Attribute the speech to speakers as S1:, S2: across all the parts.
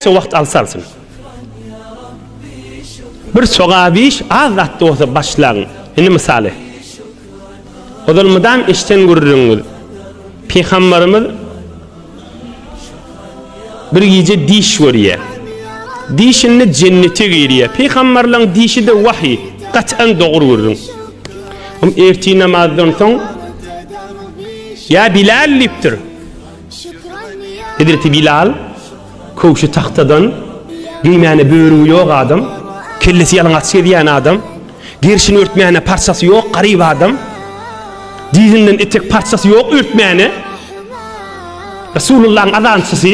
S1: Şu wagt alsa alsyn. Bir sogap iş az zat bolsa başlaň. Indi mysaly. Ozal mydam işden gürrüňiz. Pygamberimiz bir gije diş görýär. Dişinde jennete girýär. Pygamberleň dişi de wahy, gat'an dogry gürrüň. Um erti namazdan soň Ya Bilal dipdir. Hezreti Bilal, köwşi tagtadan, geýmäne börügi ýok adam, kellesi ýalaňaç gezýän adam, gerşini örtmäne parçasy ýok garyp adam, dizinden etek parçasy ýok örtmäne, Resulullahyň azançysy,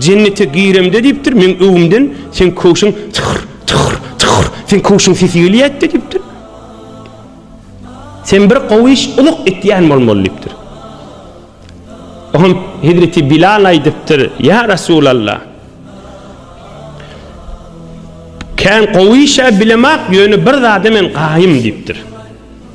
S1: Jennete giremde diýipdir, meň öwümden seň köwşüň çyhyr, çyhyr, çyhyr, seň köwşüň sesi gelýätde diýipdir. Sen bir gowy iş ulyk etýän bolmaly diýipdir. Oňa Hezreti Bilal aýdypdyr, ýa Resulallah. Kän gowy işe bilemak, ýöne bir zada men gaýym diýipdir.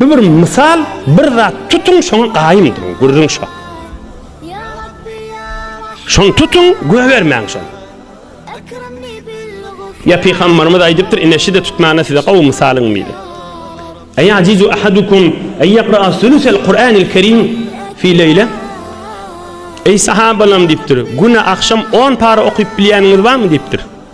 S1: Bu bir mysal bir zat tutuň şoňa gaýym duruň gürrüň şo. Şony tutuň gögermäň şony. Ya pygamberimiz aýdypdyr ine şide tutmana size gowy mysalyň mili. Eý ajizu ahadukum eý yaqra sulusel Kur'anil kerim fi leyle. Eý sahabalam diýipdir. Güne akşam 10 para okyp bilýäniňiz barmy diýipdir.